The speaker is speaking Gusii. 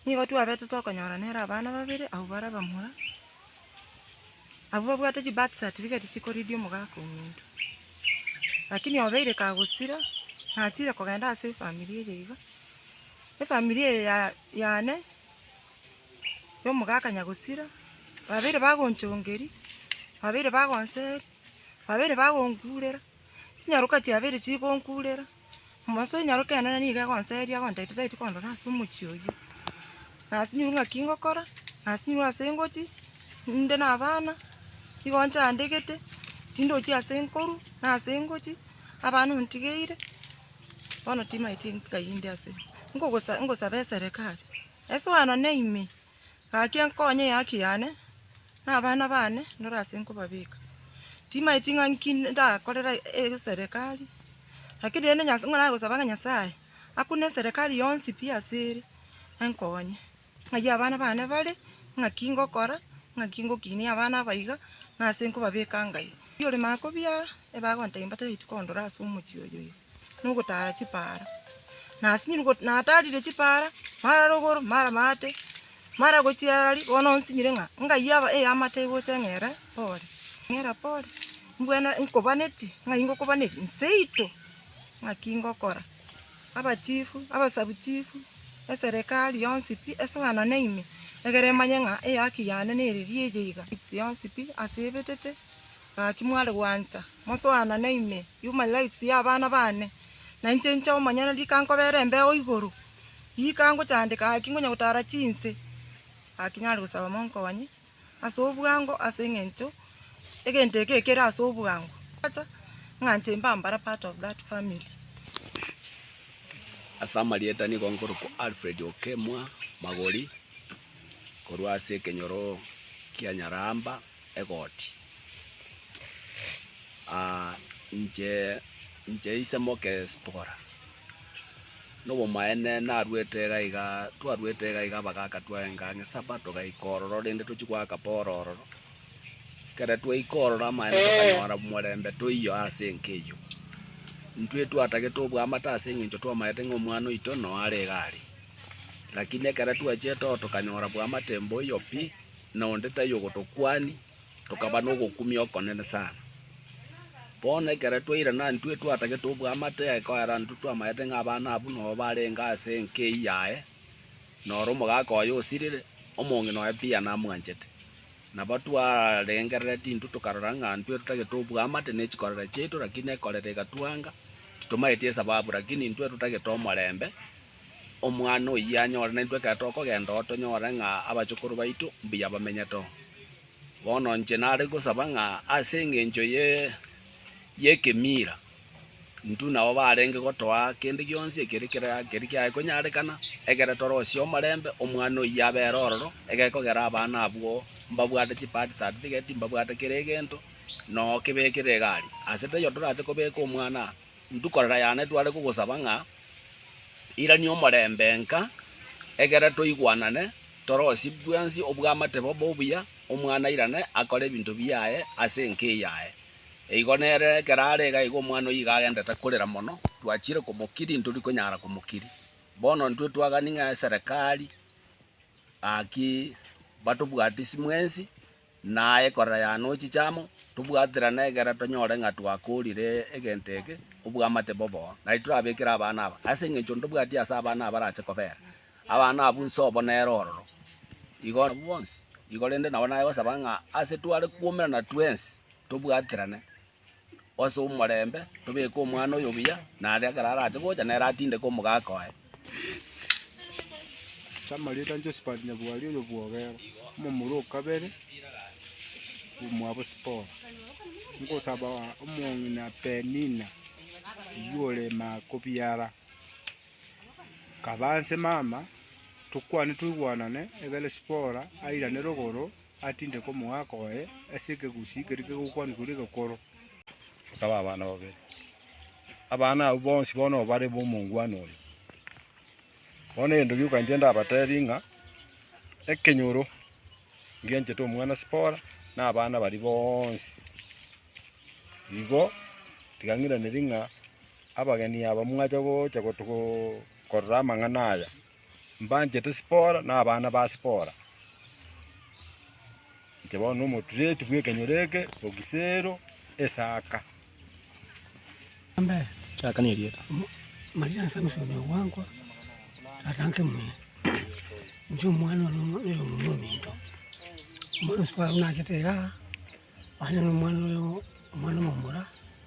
Nigo twabete tokonyora nere abana babere abwo bare abamura, abwo babwate chibirth certificate chikoridia omogaka ominto. Lakini obeire kagosira, nachire kogenda ase efamiri eye iga, efamiri eye ya yane, ya omogaka nyagosira, babeire bagonchongeria, babeire bagonseri, babeire bagonkurera. Chinyaroka chia abere chigonkurera, omonto o inyaroka enene nigo egonseria agontaete tari kondora ase omochie oyio. Na ase nyirwe ng'aki ngokora, na ase nyirwe ase ngochie, ninde na abana, nigo nchandegete, tindochie ase nkorwa, na ase ngochie, abana ontigeire, bono timaeti nkayi inde ase. Nkogosa- ngosaba eserekari, esoe nonya ime. Gaki enkonye y'ehaki yane, na abana baane nore ase nkobabeka. Timaeti ng'a nki ndakorere eserekari, lakini rende Nyasae ng'a nagosaba ng'a Nyasae akune eserekari yonsi pi ase ere, enkonye. Ng'ai abana baane bare, ng'aki ngokora, ng'aki ngokinia abana aba iga, na ase nkobabeka Ngai. Riria ore maakobia, ebagontebia mbatebi tikondora ase omochie oyoyio. nogotara chipaara. Nasinyire go- natarire chipaara, mara rogoro, mara maate, mara gochia arari, bono nsinyire ng'a engaiyo aba ey'amate egocha eng'ere pore, eng'era pore, mbwene nkobanetie, ng'ai ngokobaneria? Nseito ng'aki ngokora, abachifu, abasabuchifu, eserekari yonsi pi esoanane ime, egere emanye ng'a eyaki yane neriria eye iga, ase ebetete, gaki mware gwancha. Mosoanane ime human rights ya abana baane, na inche inche omonyene rika nkobera embeo igoro, rika ngochandeka gaki ngonya gotara chinse, gaki nare gosaba monkoganye ase obwango ase eng'encho egento eke kere ase obwango acha ng'a inche mbe ambare part of that family. Ase amarieta nigo nkorokwa Alfred Okemwa Magori, korwa ase ekenyoro kia Nyaramba. egoti. Aa, inche, inche ise moke Zipora. Nobomaene naruete iga iga, twaruete iga iga abagaka twaenga ang'e Saba togaika ororo rende tochie goaka Poro ororo. Ekero twaika ororo amaene tokanyora omorembe toiywo ase enka eyio. Intwe twatagete obwamate ase eng'encho twamaete ng'a omwana oito noyo are iga are. Lakini ekero twachete oo tokanyora bwamate mboiyo pi. na onde taiyo gotokwania, tokaba nogokumia okonene sana. Bono ekero twairana intwe twatagete obwamate, ekoera intwe twamaete ng'a abana abwo nobo barenge ase enka eyio yaye, na ore omogaka oye osirire, omong'ina oye pi anamwanchete. Nabo twarengerereti intwe tokarora ng'a intwe totagete obwamate ne chikorera chiaito, lakini ekorera egatwanga, titomaeti esababu, lakini intwe totagete omorembe, Omwana oyio anyore, naintwe ekero tokogenda oo tonyore ng'a abachukuru baito mbuya bamenyete oo. Bono inche nare gosaba ng'a ase engencho ye y'ekemira, intwe nabo barenge gotoa kende gionsi ekeri kere ekeri kiaye konyarekana, ekere torosie omorembe, omwana oyio abere ororo, egekogera abana abwo mbabwate chibirth certificate, mbabwate kera egento, noo kebekire egari. Ase taiyo torache kobeka omwana aa, intwe korera yane tware kogosaba ng'a Irania omorembe nka, egera toigwanane, torosie bwensi obwamate bobe obuya, omwana airane akore ebinto biaye ase enka eyaye. Eigo nere ekero are iga igo omwana oyio iga agendete korera mono, twachiire komokiria intori konyara komokiria. Bono intwe twagani ng'a eserekari, gaki batobwatisi mwensi, na aye korera yane o chichamo, tobwaterane egera tonyore ng'a twakoorire egento eke obwamate bobo, na titorabekera abana aba, ase engencho ntobwati ase abana aba barache kobera. Abana abwo inse obo nere ororo, igo abwo bonsi, igo rende nabo nare gosaba ng'a ase tware kwomerana twensi tobwaterane. ase omorembe, tobeke omwana oyo buya, na aria ekero arache gocha nere atindeke omogaka oye. Ase amarieta a Josphat Nyabwari oyo bwogera, omomura o kabere bw'omwabo Sipora, ngosaba omong'ina Penina oyio ore Makobiara. Kaba nse mama, tokwane toigwanane, egere Sipora airane rogoro, atindeke omogaka oye ase ekegusii keria kegokwanwa korwa egekoro. Bakaba abana babere. Abana abwo bonsi bono nigo bare b'omongwana oyo. Bono egento gioka inche ndabateebie ng'a ekenyoro ngenchete omwana Sipora na abana baria bonsi. Igo tiga ng'iraneri ng'a. Abageni aba mwacha gocha korora amang'ana aya, mbanchete Sipora na abana ba Sipora. Inche bono nomotureti bw'ekenyoro eke, Ogisero, Esaka. Esaka nerieta. Maria ase omochenu ogwankwa, tata nke muya. Inche omwana one oyo omomura ominto. Bono Sipora buna achete iga, onye nomwana oyo, omwana omomura.